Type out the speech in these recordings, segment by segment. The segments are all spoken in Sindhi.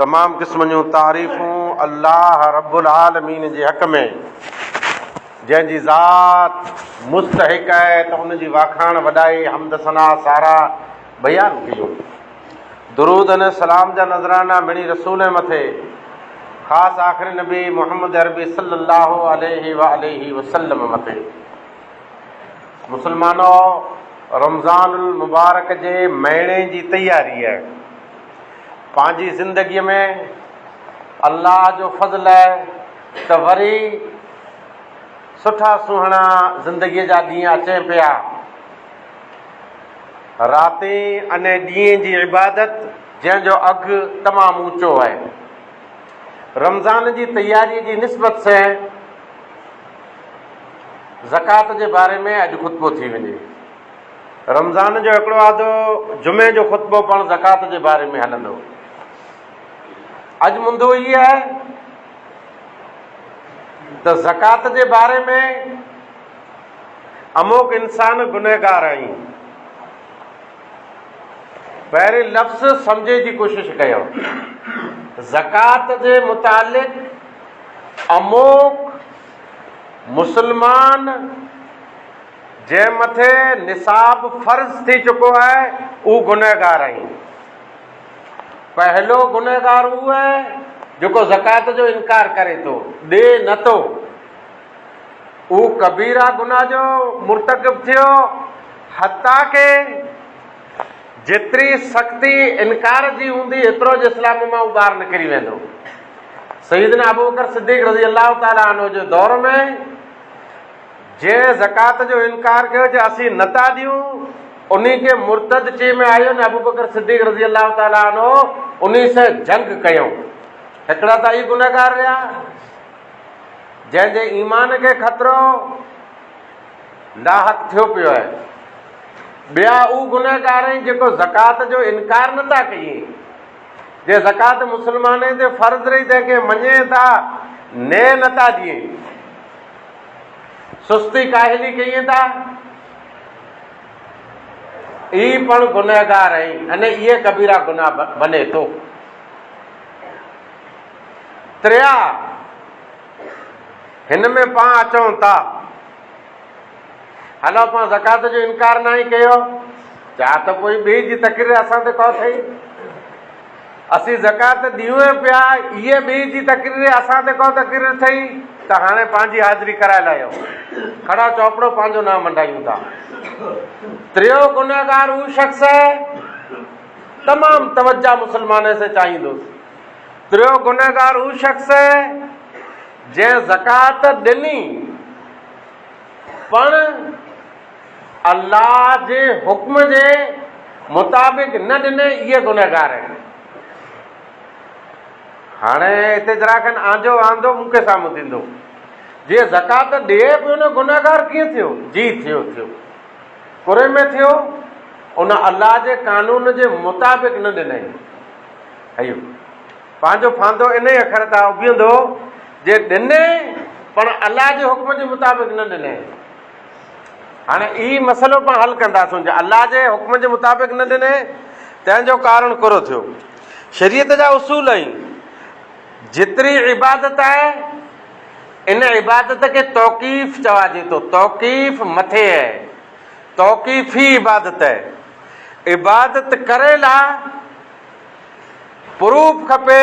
تمام قسمن جون تعريفون الله رب العالمين جي حق ۾، جنهن جي ذات مستحق آهي ته ان جي واکاڻ، وڏائي، حمد ثنا، ساراهه بيان ڪيون. درود ۽ سلام جا نذرانا مڙئي رسول ۽ مٿي خاص آخري نبي محمد عربي صلي الله عليه وآله وسلم مٿي. مسلمانو! رمضان المبارڪ جي مهيني جي تياريء، پنهنجي زندگيء ۾ الله جو فضل آهي ته وري سٺا سهڻا زندگيء جا ڏينهن اچين پيا. راتين اني ڏينهن جي عبادت جنهن جو اگهه تمام اوچو آهي. رمضان جي تياريء جي نسبت سين زڪوات جي باري ۾ اڄ خطبو ٿي وڃي. رمضان جو هڪڙو آڌو جمعي جو خطبو پڻ زڪوات جي باري ۾ هلندو. اڄ مندو هي آهي ته زڪوات جي باري ۾ اموڪ انسان گنهگار آهيون. پهرين لفظ سمجهي جي ڪوشش ڪيو. زڪوات جي متعلق اموڪ مسلمان جنهن مٿي نصاب فرض ٿي چڪو آهي اهو گنهگار آهين. پهلو گنهگار اهو آهي جيڪو زڪوات جو انڪار ڪري ٿو، ڏي نه ٿو. اهو ڪبيره گناهه جو مرتڪب ٿيو حتيٰ ڪه جيتري سختي انڪار جي هوندي ايترو جو اسلام مان اهو ٻاهر نڪري ويندو. سيدنا ابوبڪر صديق رضي الله تعالٰي عنه جي دور ۾ جنهن زڪوات جو انڪار ڪيو جو اسين نه ٿا ڏيون انهي کي مرتد چئي ۾ آيو نه ابوبڪر صديق رضي الله تعالٰي عنه انهي سان جنگ ڪيائون هڪڙا ته اهي گنهگار رهيا جنهن جي ايمان کي خطرو لاحق ٿيو پيو آهي ٻيا اهو گنهگار آهن جيڪو زڪوات جو انڪار نه ٿا ڪيين جي زڪوات مسلمانن تي فرض رهي تنهن کي مڃين ٿا ني نه ٿا ڏين سستي ڪاهلي ڪيئين ٿا؟ اي پڻ گنهگار آهين ان اي ڪبيرا گناه بني تو. تريا هن ۾ پان اچون تا هل پان زڪات جو انڪار ناهي ڪيو جا ته پوء ٻي جي تقرير اسان تي ڪو ٿئي اسين زڪوات ڏيون ئي پيا، هيء ٻيئي جي تقرير اسان تي ڪو تقرير ٿئي ته هاڻي پنهنجي حاضري ڪرائي لاهيو. ڪھڙا چوپڙو پنهنجو نانء منڊايون ٿا. تريون گنهگار هو شخص هي، تمام توجه مسلمانين سين چاهيندوس. تريون گنهگار هو شخص هي، جنهن زڪوات ڏني، پڻ. الله جي حڪم جي مطابق نه ڏني اهي گنهگار آهن. هاڻي هتي ذرا کن آنجو آندو مون کي سامهون ٿيندو. جي زڪات ڏئي پيو نه گنهگار ڪيئن ٿيو؟ جي ٿيو ٿيو. ڪري ۾ ٿيو ان الله جي قانون جي مطابق نه ڏنئي. هيو پنهنجو ڦاندو انهي اکر تان اڀيندو جي ڏني پڻ الله جي حڪم جي مطابق نه ڏنئي. هاڻي هي مسئلو پاڻ حل ڪنداسون جي الله جي حڪم جي مطابق نه ڏني تنهن جو ڪارڻ ڪهڙو ٿيو شريعت جا اصول ۽ جيتري عبادت آهي ان عبادت کي توقيف چواجي ٿو توقيف مٿي آهي توقيفي عبادت آهي عبادت ڪري لا پروف کپي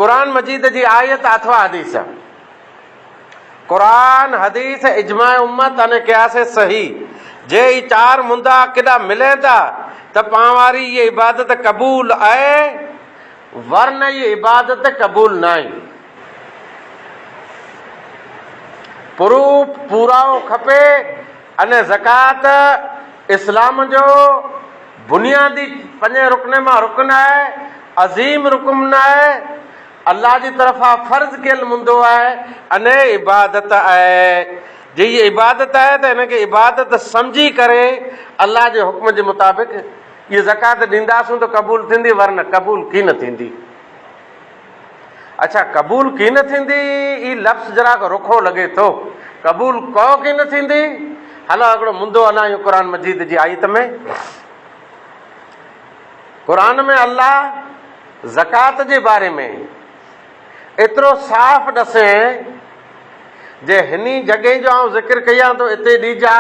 قرآن مجيد جي آيت اٿوا حديث قرآن، حديث، اجماع امت ۽ قياس صحيح جي هي چار مندا ڪيڏا ملين ٿا ته پان واري هيء عبادت قبول آهي ورنه هيء عبادت قبول ناهي. پروف پورائو کپي ان زڪوات اسلام جو بنيادي پنجين رڪن مان رڪن آهي، عظيم رڪن آهي، الله جي طرفان فرض ڪيل مندو آهي ان عبادت آهي جي هي عبادت آهي ته ان کي عبادت سمجهي ڪري الله جي حڪم جي مطابق هي زڪوات ڏينداسون ته قبول ٿيندي ورنه قبول ڪين ٿيندي اڇا قبول ڪين ٿيندي هي لفظ جراڪ رکو لڳي ٿو قبول ڪو ڪين ٿيندي هلو هڪڙو مندو هلان قرآن مجيد جي آيت ۾ قرآن ۾ الله زڪوات جي باري ۾ ايترو صاف ڏسين جي هني جڳهين جو آئون ذڪر ڪيان ٿو اتي ڏيجا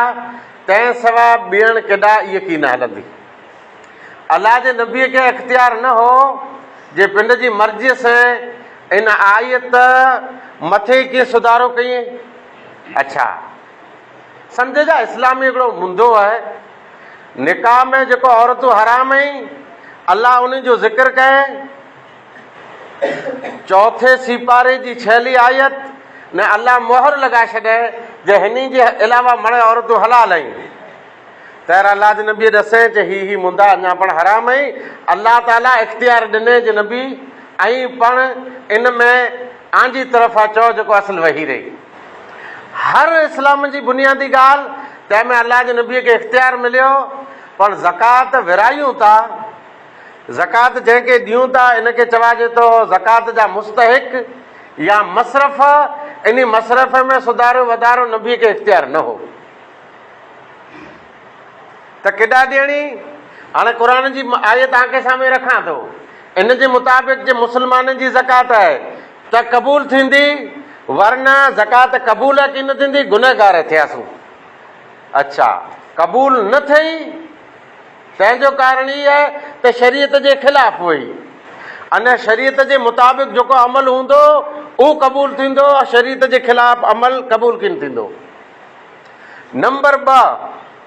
تنهن سوا ٻيڻ ڪيڏا اي ڪي نه هلندي الله جي نبي کي اختيار نه هو جي پنڊ جي مرضي سين ان آيت مٿي ڪي سڌارو ڪيئين اڇا سمجهجا اسلامي هڪڙو منڌو آهي نڪاح ۾ جيڪو عورتون حرام ۽، الله انهن جو ذڪر ڪري، چوٿين سيپاري جي ڇهلي آيت، ۾ الله مهر لڳائي ڇڏي جو هني جي علاوه مڙئي عورتون حلال ۽، طهر الله جي نبيء ڏسين چي هي هي مندا اڃا پڻ حرام ۽، الله تعالي اختيار ڏني جو نبي ائين پڻ ان ۾ آنجي طرفان چئو جيڪو اصل وحي رهي. هر اسلام جي بنيادي ڳالهه تنهن ۾ الله جي نبي کي اختيار مليو پڻ زڪوات ورهايون ٿا زڪوات جنهن کي ڏيون ٿا ان کي چوائجي ٿو زڪوات جا مستحق يا مصرف انهي مصرف ۾ سڌارو وڌارو نبي کي اختيار نه هو ته ڪيڏا ڏيڻي هاڻي قرآن جي آيت آنکي سامهي رکان ٿو ان جي مطابق جي مسلمانن جي زڪوات آهي ته قبول ٿيندي، ورنه زڪوات قبول ڪي نه ٿيندي، گنهگار ٿياسون. اڇا، قبول نه ٿئي، تنهن جو ڪارڻ هي آهي ته شريعت جي خلاف هئي. ان شريعت جي مطابق جيڪو عمل هوندو، اهو قبول ٿيندو، شريعت جي خلاف عمل قبول ڪي نه ٿيندو. نمبر ٻه.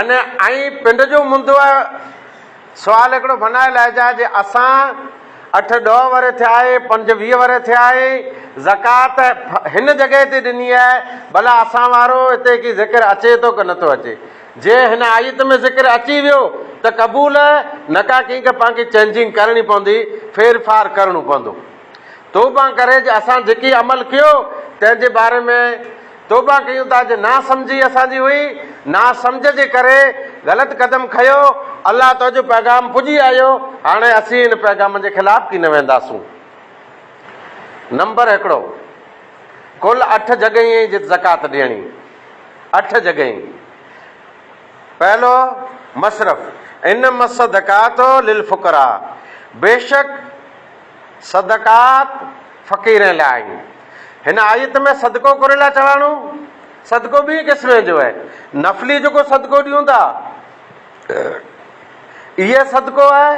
ان ۽ پنڊ جو مندو آهي سوال هڪڙو بنائي لائجا جي اسان اٺ ڏهه ورهيه ٿيا آهي پنج ويهه ورهيه ٿيا آهي زڪات هن جڳهه تي ڏني آهي ڀلا اسان وارو هتي ڪي ذڪر اچي ٿو ڪه نٿو اچي جي هن آيت ۾ ذڪر اچي ويو ته قبول نه ڪا ڪنهن کي پنهنجي چينجنگ ڪرڻي پوندي ڦير ڦار ڪرڻو پوندو توبه ڪري جي اسان جيڪي عمل ڪيو تنهن جي باري ۾ توبه ڪيون ٿا جو ناسمجهي اسان جي هئي، ناسمجهه جي ڪري غلط قدم کنيو، الله تو جو پيغام پڄي آيو، هاڻي اسين ان پيغام جي خلاف ڪي نه وينداسون. نمبر هڪڙو، ڪل اٺ جڳهين هئي جت زڪوات ڏيڻي، اٺ جڳهين، پهلو مصرف، ان مصدقات للفقراء، بيشڪ، صدقات فقيرين لاء آهن. هن آيت ۾ صدقو ڪري لاء چواڻو. صدقو ٻئي قسمين جو آهي. نفلي جيڪو صدقو ڏيون ٿا اهي صدقو آهي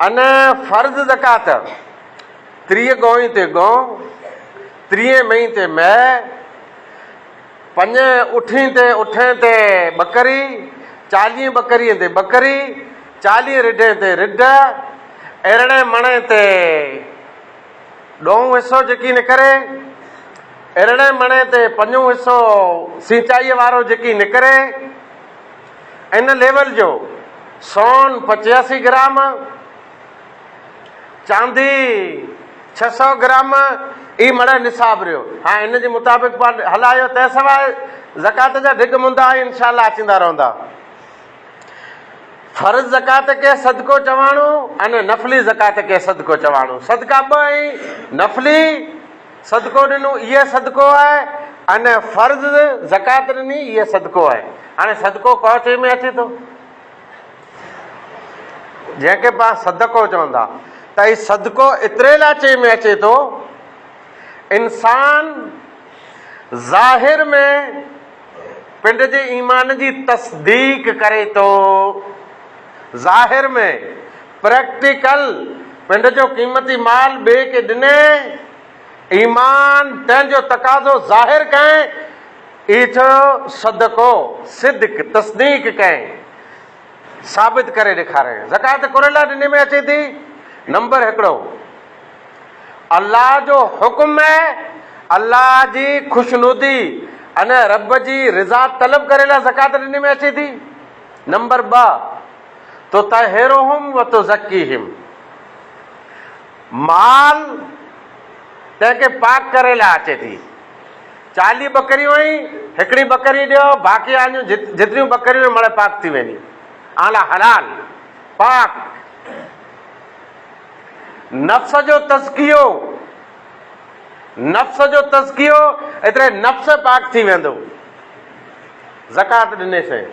ان فرض زڪات ٽيهه ڳوئين تي ڳئون، ٽيهين مئين تي مئي، پنجين اٺين تي اٺين تي ٻڪري، چاليهين ٻڪريين تي ٻڪري، چاليهين رڍين تي رڍ، ارڙهين مڻين تي ڏهون حصو جيڪي نڪري، ارڙهين مڻين تي پنجون حصو سينچائيء وارو جيڪي نڪري، ان ليول جو سون پچياسي گرام، چاندي ڇهه سؤ گرام ئي مڙئي نصاب رهيو. هاڻ ان جي مطابق پاڻ هلايو تنهن سواء زڪوات جا ڍڳ مندا ۽ ان شاء الله اچيندا رهندا. فرض زڪوات کي صدقو چواڻو ۽ نفلي زڪوات کي صدقو چواڻو. صدقا ٻه آهن، نفلي صدقو ڏنو اهي صدقو آهي ۽ فرض زڪوات ڏني اهي صدقو آهي. هاڻي صدقو ڪهڙي شيء ۾ اچي ٿو؟ جنهن کي پاڻ صدقو چون ٿا ته هي صدقو ايتري لاء چئي ۾ اچي ٿو انسان ظاهر ۾ پنڊ جي ايمان جي تصديق ڪري ٿو ظاهر ۾ پريڪٽيڪل پنڊ جو قيمتي مال ٻئي کي ڏني ايمان، تنهن جو تقاضو ظاهر ڪئين، اي ٿيو صدقو، صدق، تصديق ڪئين، ثابت ڪري ڏيکارئين. زڪوات ڪرڻ لاء ڏني ۾ اچي ٿي، نمبر هڪڙو، الله جو حڪم ۽ الله جي خوشنودي ان رب جي رضا طلب ڪري لاء زڪوات ڏني ۾ اچي ٿي، نمبر ٻه، تطهرهم وتزڪيهم، مال تنهن کي پاڪ ڪري لاء اچي ٿي. چاليهه ٻڪريون ۽ هڪڙي ٻڪري ڏيو، باقي آنيون جيتريون ٻڪريون ۽ مڙهه پاڪ ٿي وينديون. اوهان لاء حلال، پاڪ. نفس جو تزڪيو، نفس جو تزڪيو، ايتري نفس پاڪ ٿي ويندو. زڪوات ڏني سين.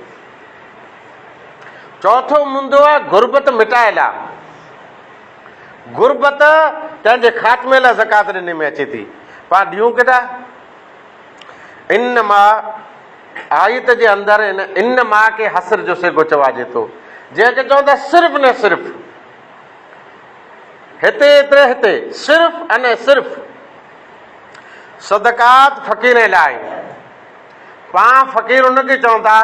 چوٿون موندو آهي غربت مٽائي لاء. غربت تنهن جي خاتمي لاء زڪوات ڏني ۾ اچي ٿي. پاڻ ڏيون ڪيڏا؟ ان ما آيت جي اندر ان ان ما کي حصر جو صيغو چواجي ٿو، جنهن کي چون ٿا صرف ني صرف. هتي ايتري هتي صرف ان صرف صدقات فقيرين لاء آهن. پاڻ فقير ان کي چون ٿا،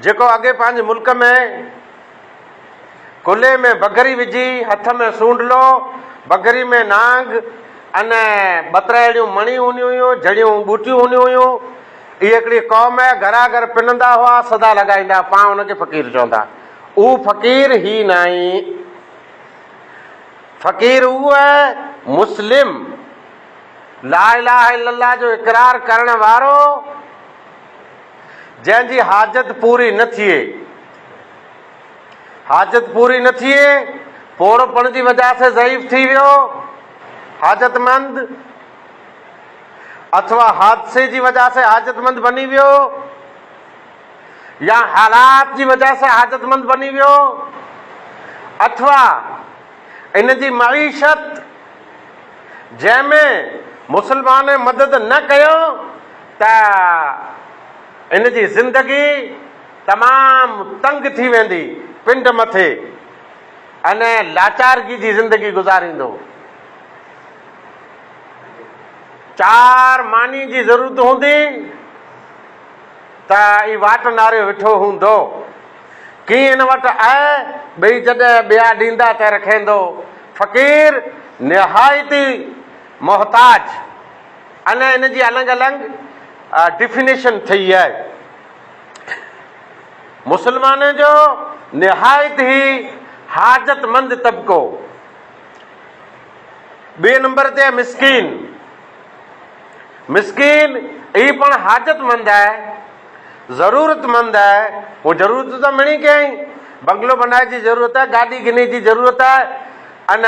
جيڪو اڳي پنهنجي ملڪ ۾ ڪلهي ۾ بگهري وجهي، هٿ ۾ سونڍلو، بگهري ۾ نانگ ان ٻترائڙيون مڻيون هونديون هيون، جهڙيون ٻوٽيون هونديون هيون. اهي هڪڙي قوم هئي، گهرا گهر پنندا هئا، صدا لڳائيندا هئا، پاڻ ان کي فقير چوندا هئا. اهو فقير هي ناهي. فقير اهو آهي، مسلم، لا اله الا الله جو اقرار ڪرڻ وارو، جنهن جي حاجت پوري نه ٿئي، حاجت پوري نه ٿئي، پوڙهوپڻ جي وجهه سين ضعيف ٿي ويو، حاجتمند، اٿوا حادثي جي وجهه سين حاجتمند بني ويو يا حالات جي وجهه سين حاجتمند بني ويو اٿوا ان جي معيشت جنهن ۾ مسلمانن مدد نه ڪيو ته ان جي زندگي تمام تنگ ٿي ويندي پنڊ مٿي انهيء لاچارگي جي زندگي گذاريندو. چار ماني جي ضرورت هوندي ته اي واٽ ناريو وٺو هوندو. ڪين ان وٽ اهي ٻئي جڏهن ٻيا ڏيندا ته رکيندو. فقير نهايت ئي محتاج انهيء ان جي النگ النگ ڊيفينيشن ٿئي اهي. مسلمانن جو نهايت ئي حاجتمند طبقو، ٻئي نمبر تي مسڪين، مسڪين ئي پڻ حاجتمند آهي، ضرورتمند آهي، هو ضرورت ته مڙئي ڪيائين، بنگلو بنائي جي ضرورت آهي، گاڏي گني جي ضرورت آهي ان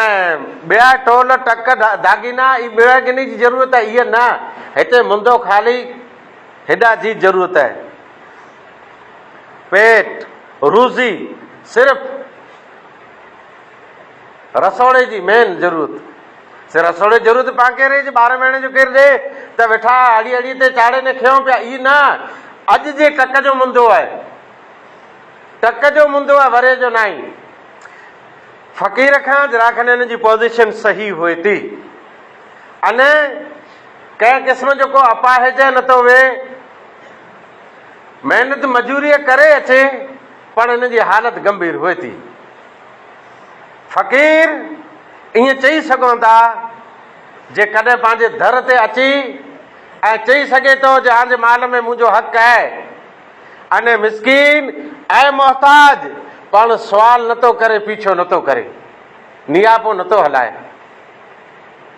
ٻيا ٽول ٽڪ داڳينا ئي ٻيڙا گني جي ضرورت آهي، اهي نه، هتي منڌو خالي. هيڏا جي ضرورت آهي. پيٽ روزي صرف رسوڙي جي مين ضرورت سي رسوڙي ضرورت پاڪي ري جي ٻارهن مهيني جو ڪير ڏي ته ويٺا اڙي اڙي تي چاڙهي نه کيون پيا اي نه اڄ جي ٽڪ جو منڌو آهي ٽڪ جو منڌو آهي وري جو ناهي فقير کان جراخنين جي پوزيشن صحيح هئي تي ان ڪنهن قسم جو ڪو اپاهج نٿو وي، محنت مزوريء ڪري اچي پڻ هن جي حالت گنڀير هئي ٿي. فقير ائين چئي سگهون ٿا جي ڪڏهن پنهنجي در تي اچي ائين چئي سگهي ٿو جي آنجي مال ۾ منهنجو حق اهي انهي مسڪين ۽ محتاج پڻ سوال نٿو ڪري پيڇو نٿو ڪري نياپو نٿو هلائي.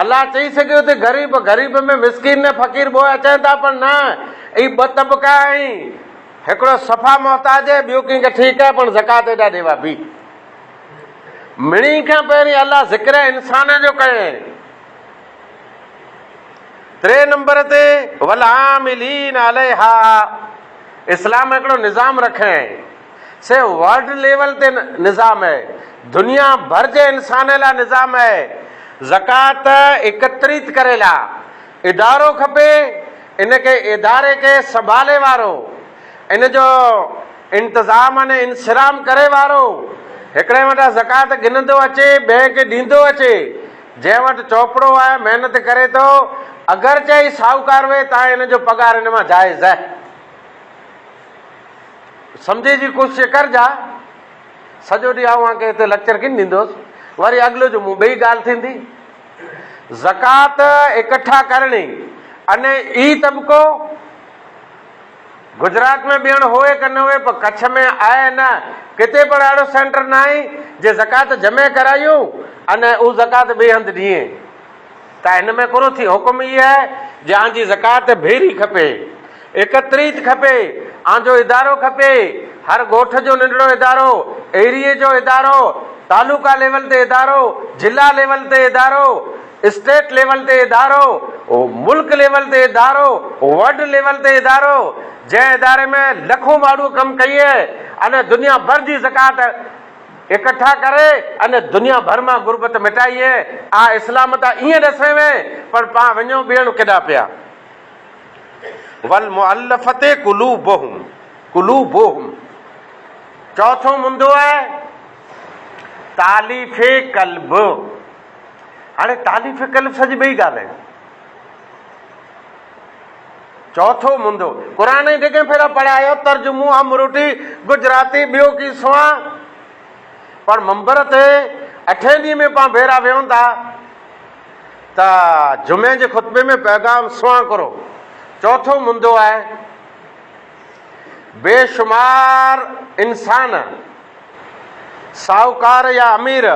الله چئي سگهيو ته غريب غريب ۾ مسڪين ۾ فقير ٻه اچن ٿا پر نه اهي ٻه طبقا آهن هڪڙو صفا محتاج هي ٻيو ڪنهن کي ٺيڪ آهي پڻ زڪات ايڏا ڏيوا بي مڙني کان پهرين الله ذڪر انسان جو ڪيائين ٽي نمبر تي ولعاملين عليها اسلام هڪڙو نظام رکيائين سي ورلڊ ليول تي نظام اهي، دنيا ڀر جي انسانن لا نظام اهي، زڪوات اڪتريت ڪري لا ادارو کپي، ان کي اداري کي سنڀالي وارو، ان جو انتظام ان انصرام ڪري وارو، هڪڙي وٽان زڪوات گهندو اچي ٻئي کي ڏيندو اچي، جنهن وٽ چوپڙو آهي محنت ڪري ٿو اگرچه هي ساهوڪار هئي تاهين هن جو پگهار هن مان جائز اهي. سمجهي جي ڪوشش ڪر جا سڄو ڏينهن اوهان کي هتي ليڪچر ڪين ڏيندوس وري اڳلو جمعو ٻئي ڳالهه ٿيندي زڪات اڪٺا ڪرڻي ان اي طبقو گجرات ۾ بيڻ هوئي ڪن هوئي پر ڪڇ ۾ آهي نه ڪتي پڻ اهڙو سينٽر ناهي جي زڪات جمع ڪرايون ان او زڪات ٻئي هنڌ ڏيئين ته هن ۾ ڪونه ٿي. حڪم هيء آهي جي آن جي زڪوات ڀيري کپي، ايڪتريت کپي، آن جو ادارو کپي، هر ڳوٺ جو ننڍڙو ادارو، ايريي جو ادارو، تعلقه ليول تي ادارو، ضلع ليول تي ادارو، اسٽيٽ ليول تي ادارو، ملڪ ليول تي ادارو، ورلڊ ليول تي ادارو، جنهن اداري ۾ لکون ماڻهوء ڪم ڪيئي، ان دنيا ڀر جي زڪوات. اڪٺا ڪري ان دنيا ڀر مان غربت مٽائي ۽ آء اسلام تان ائين ڏسين وين پر پان وڃون ٻيڻ ڪيڏا پيا. والمؤلفة قلوبهم قلوبهم چوٿون مندو آهي تاليف قلب هاڻي تاليف قلب سڄي ٻئي ڳالهه آهي. چوٿون مندو قرآن ۽ ڊگهين ڦيرا پڙهيا جو ترجمو امروٽي گجراتي ٻيو ڪي سواء پر منبر تي اٺين ڏينهن ۾ پان ڀيرا ويهون ٿا ته جمعي جي خطبي ۾ پيغام سواء ڪرو چوٿون مندو آهي بي شمار انسان ساهوڪار يا امير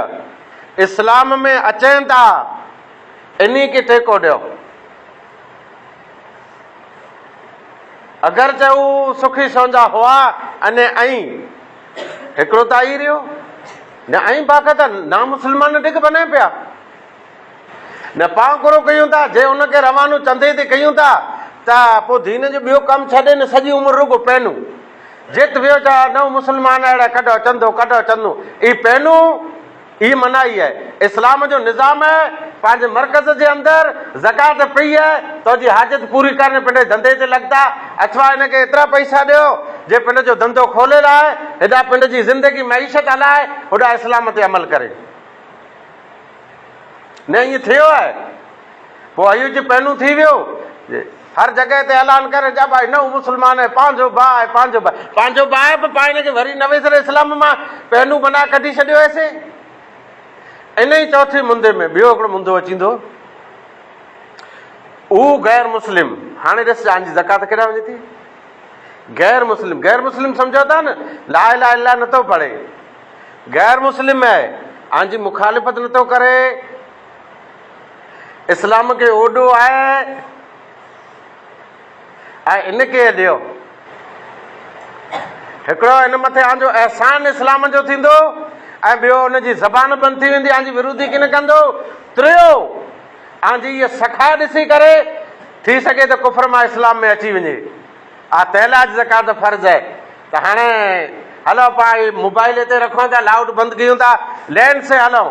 اسلام ۾ اچين ٿا انهي کي ٺيڪو ڏيو اگرچه هو سکي سونجا هئا ان ۽ هڪڙو ته آئي ريو نه ۽ باقي ته نا مسلمان ڊگ بنائي پيا نه پاو گرو ڪيون ٿا جي ان کي روانو چندي تي ڪيون ٿا ته پو دين جو ٻيو ڪم ڇڏي نه سڄي عمر رڳو پينو جت ويو چا نو مسلمان اهڙا ڪڍو چندو ڪڍو چندو اي پينو اھي منائي اھي اسلام جو نظام اھي پنھنجي مرڪز جي اندر زڪوات پئي اھي تنھنجي حاجت پوري ڪرڻ پنھنجي ڌنڌي تي لڳتا اٿوا ھن کي ايترا پئسا ڏيو جي پنھنجي جو ڌنڌو کولي لاء ھيڏا پنھنجي جي زندگي معيشت ھلائي ھوڏا اسلام تي عمل ڪري نه ائين ٿيو اھي. پوء ايوچ پهلون ٿي ويو جي هر جڳهه تي اعلان ڪري جا ڀائي نئون مسلمان آهي پنهنجو ڀاء آهي پنهنجو ڀاء پنهنجو ڀاء آهي پوء پاڻ کي وري نوي سري اسلام مان پهلون بنا ڪڍي ڇڏيو هي سي ان ئي چوٿي مندي ۾ ٻيو هڪڙو مندو اچيندو هو غير مسلم هاڻي ڏس جان جي زڪات ڪيڏا وڃي ٿي غير مسلم غير مسلم سمجھو تھا نه لا اله الا الله نه ٿو پڙھي غير مسلم آهي آن جي مخالفت نه ٿو ڪري اسلام کي اوڏو آهي ۽ ان کي ڏيو هڪڙو هن مٿي آن جو احسان اسلام جو ٿيندو ۽ ٻيو ان جي زبان بند ٿي ويندي آن جي ورودي ڪن ڪندو ٽيو آن جي هيء سخا ڏسي ڪري ٿي سگهي ته ڪفر مان اسلام ۾ اچي وڃي آ تيلا جي زڪات فرض آهي ته هاڻي هلو پاڻ موبائل هتي رکون ٿا لاؤڊ بند ڪيون ٿا لين سي هلون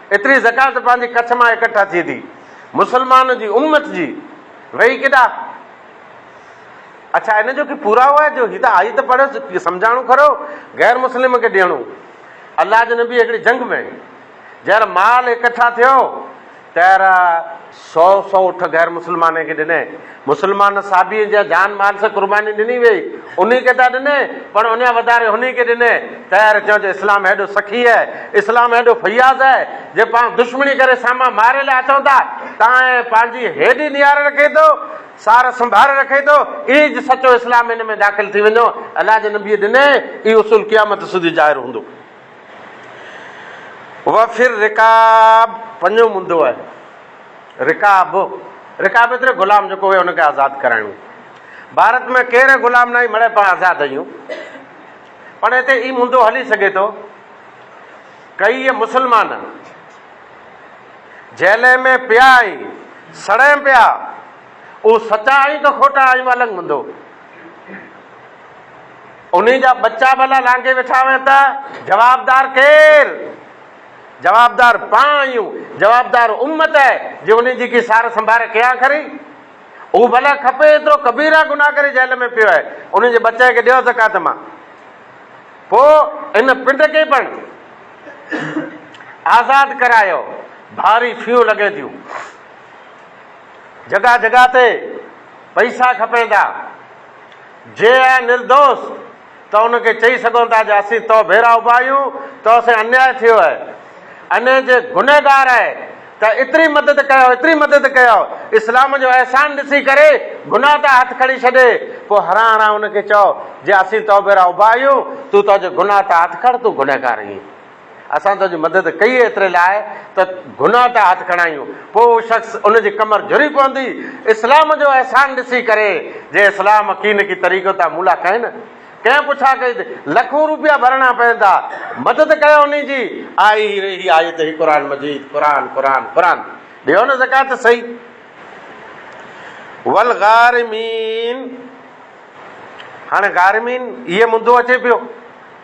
ايتري زڪوات پنهنجي ڪڇ مان اڪٺا ٿئي ٿي مسلمان جي امت جي ويهي ڪيڏا اڇا ان جو ڪي پورائو آهي جو هي ته آيت پڙهيس ڪي سمجهاڻو کرو غير مسلم کي ڏيڻو الله جي نبي هڪڙي جنگ ۾ جهر مال اڪٺا ٿيو تهر سؤ سؤ اٺ غير مسلمانين کي ڏنئين. مسلمان صحابين جنهن جان مال سان قرباني ڏني ويئي، انهي کي ته ڏنئين، پر انهيان وڌاري هنئين کي ڏنئين. طير چيو ته اسلام هيڏو سخي آهي، اسلام هيڏو فياض آهي، جي پاڻ دشمني ڪري سامان ماري لاء اچون ٿا، تانئين پنهنجي هيڏي نيار رکي ٿو، سار سنڀار رکي ٿو، ايج سچو اسلام هن ۾ داخل ٿي وڃو. الله جي نبيء ڏنئين، اهو اصول قيامت سوڌي ظاهر هوندو. وفر رقاب پنجون مندو آهي. رقاب، رقاب ايتري غلام جيڪو هئي ان کي آزاد ڪرائڻو. ڀارت ۾ ڪير غلام ناهي مڙئي پاڻ آزاد اهيون. پڻ هتي اي مندو هلي سگهي ٿو. ڪيئي مسلمان جيلين ۾ پيا ۽ سڙين پيا اهو سچا آهيون ڪه کوٽا آهيون الڳ مندو. انهي جا ٻچا ڀلا لانگهي ويٺا هئي ته جوابدار ڪير؟ جوابدار پان آهيون، جوابدار امت آهي جي انهي جي ڪي سار سنڀار ڪيان کري؟ هو ڀلا کپي ايترو ڪبيرا گناهه ڪري جيل ۾ پيو آهي، انهي جي ٻچي کي ڏيو زڪوات مان پوء ان پنڊ کي پڻ آزاد ڪرايو، ڀاري فيون لڳين ٿيون، جڳهه جڳهه تي پئسا کپين ٿا. جي اهي نردوس، ته ان کي چئي سگهون ٿا جو اسين تو ڀيرا اڀا آهيون، تو سين انياء ٿيو آهي. انهيء جي گنهگار آهي ته ايتري مدد ڪيو، ايتري مدد ڪيو، اسلام جو احسان ڏسي ڪري گناهه تان هٿ کڻي ڇڏي، پوء هران هران ان کي چئو جي اسين تو ڀيرا اڀا آهيون، تون تو جي گناهه تان هٿ کڻ، تون گنهگار آهين. اسان تنهنجي مدد ڪئي ايتري لاء ته گناهه تان هٿ کڻايون، پوء اهو شخص ان جي ڪمر جهري پوندي، اسلام جو احسان ڏسي ڪري، جي اسلام ڪين ڪي طريقو تان مون لاء ڪين، ڪنهن پڇا ڪئي ته لکون روپيا ڀرڻا پوندا، مدد ڪيو انهي جي، آء هي ري هي آيت هي قرآن مجيد، قرآن، قرآن، قرآن، ڏيو نه زڪوات صحيح. والغارمين هاڻي غارمين اهي مندو اچي پيو.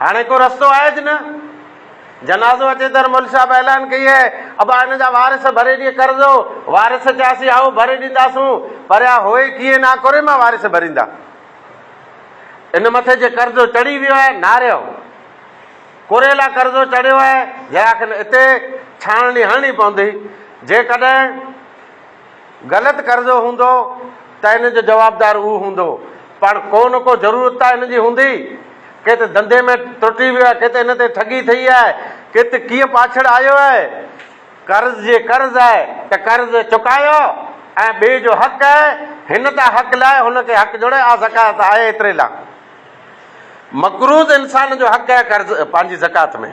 هاڻي ڪو رستو آهيج نه. جنازو اچي تر مل صاحب اعلان ڪئي هي، ابا هن جا وارث ڀري ڏي قرضو. وارث چياسين هائو ڀري ڏينداسون، پر اها هوئي ڪيئن نه ڪوري مان وارث ڀريندا. ان مٿي جي قرضو چڙهي ويو آهي ناريو ڪوري لا قرضو چڙهيو آهي، جياکن اتي ڇاڻڻي هڻڻي پوندي. جيڪڏهن. غلط قرضو هوندو ته ان جو جوابدار هو هوندو پاڻ ڪو نه ڪو ضرورت ته ان جي هوندي ڪي ته ڌنڌي ۾ ترٽي ويو آهي ڪي ته ان تي ٺڳي ٿئي آهي ڪي ته ڪيئن پاڇڙ آيو آهي قرض جي قرض آهي ته قرض چڪايو ۽ ٻئي جو حق آهي هن تان حق لاء هن کي حق جوڙي آ زڪات آهي ايتري لا مقروض انسان جو حق آهي قرض پنهنجي زڪات ۾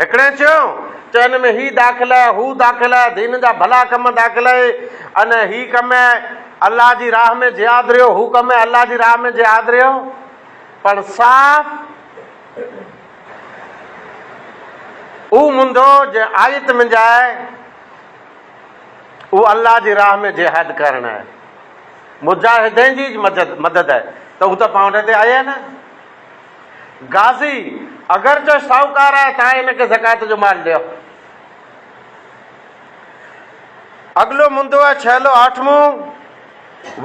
هڪڙي چيو ته ان ۾ هي داخل آهي، هو داخل آهي، دين جا ڀلا ڪم داخل آهي ۽ هي ڪم آهي الله جي راهه ۾ جهاد رهيو، هو ڪم آهي الله جي راهه ۾ جهاد رهيو پر صاف اهو منڌو جنهن آيت منجهه آهي اهو الله جي راهه ۾ جهاد ڪرڻ آهي مجاهدين جي مدد آهي ته هو ته پاڻ تي آيا نه غازي، اگرچه شاهوڪار آهي تان هن کي زڪوات جو مال ڏيو. اڳلو مندو آهي ڇهلو آٺمون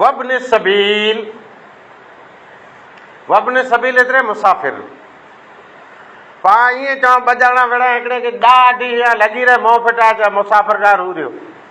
وابن السبيل وابن السبيل ايتري مسافر پا ائين چوان ٻه ڄاڻا وڙهيا هڪڙي کي ڏاڍي هيا لڳي رهي مون ڦٽا چا مسافر ڪا رو ريو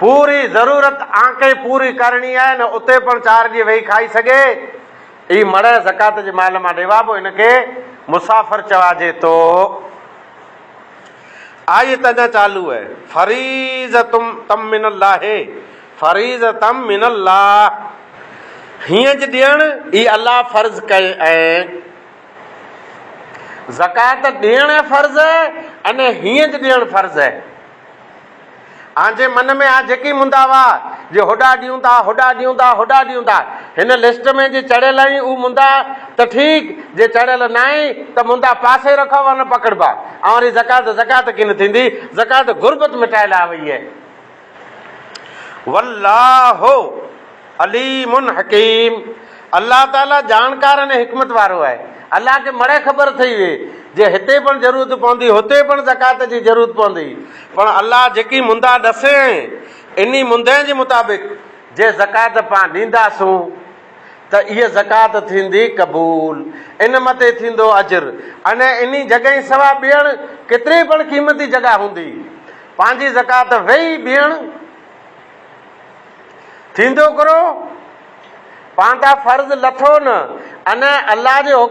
پوري ضرورت آنڪي پوري ڪرڻي آهي نه اتي پڻ چار ڏينهن ويهي کائي سگهي اي مڙهه زڪات جي مال مان ڏيوا پوء هن کي مسافر چواجي ٿو آيت اڃا چالو آهي فريضتم تم من الله فريضتم من الله هينج ڏيڻ اي الله فرض ڪئي ۽ زڪات ڏيڻ فرض آهي ان هينج ڏيڻ فرض آهي آن جي من ۾ آن جيڪي مندا وا جي هوڏا ڏيون ٿا، هوڏا ڏيون ٿا، هوڏا ڏيون ٿا. هن لسٽ ۾ جي چڙهيل آهين هو مندا ته ٺيڪ، جي چڙهيل ناهين ته مندا پاسي رکو وا نه پڪڙبا. آن وري زڪوات زڪوات ڪين ٿيندي، زڪوات غربت مٽائي لاء وئي آهي. والله. عليم حڪيم، الله تعاليٰ ڄاڻڪار ۽ حڪمت وارو آهي. الله کي مڙئي خبر ٿئي ويئي، جي هتي پڻ ضرورت پوندي، هتي پڻ زڪوات جي ضرورت پوندي، پڻ الله جيڪي مندا ڏسيائين، انهي مندين جي مطابق جي زڪوات پان ڏينداسون، ته اهي زڪوات ٿيندي قبول، ان مٿي ٿيندو اجر، ۽ انهي جڳهين سوا ٻيڻ ڪيتري پڻ قيمتي جڳهه هوندي، پنهنجي زڪوات ويهي ٻيڻ. ٿيندو ڪرو پاندا فرض لٿو نه انهن الله جي حڪم.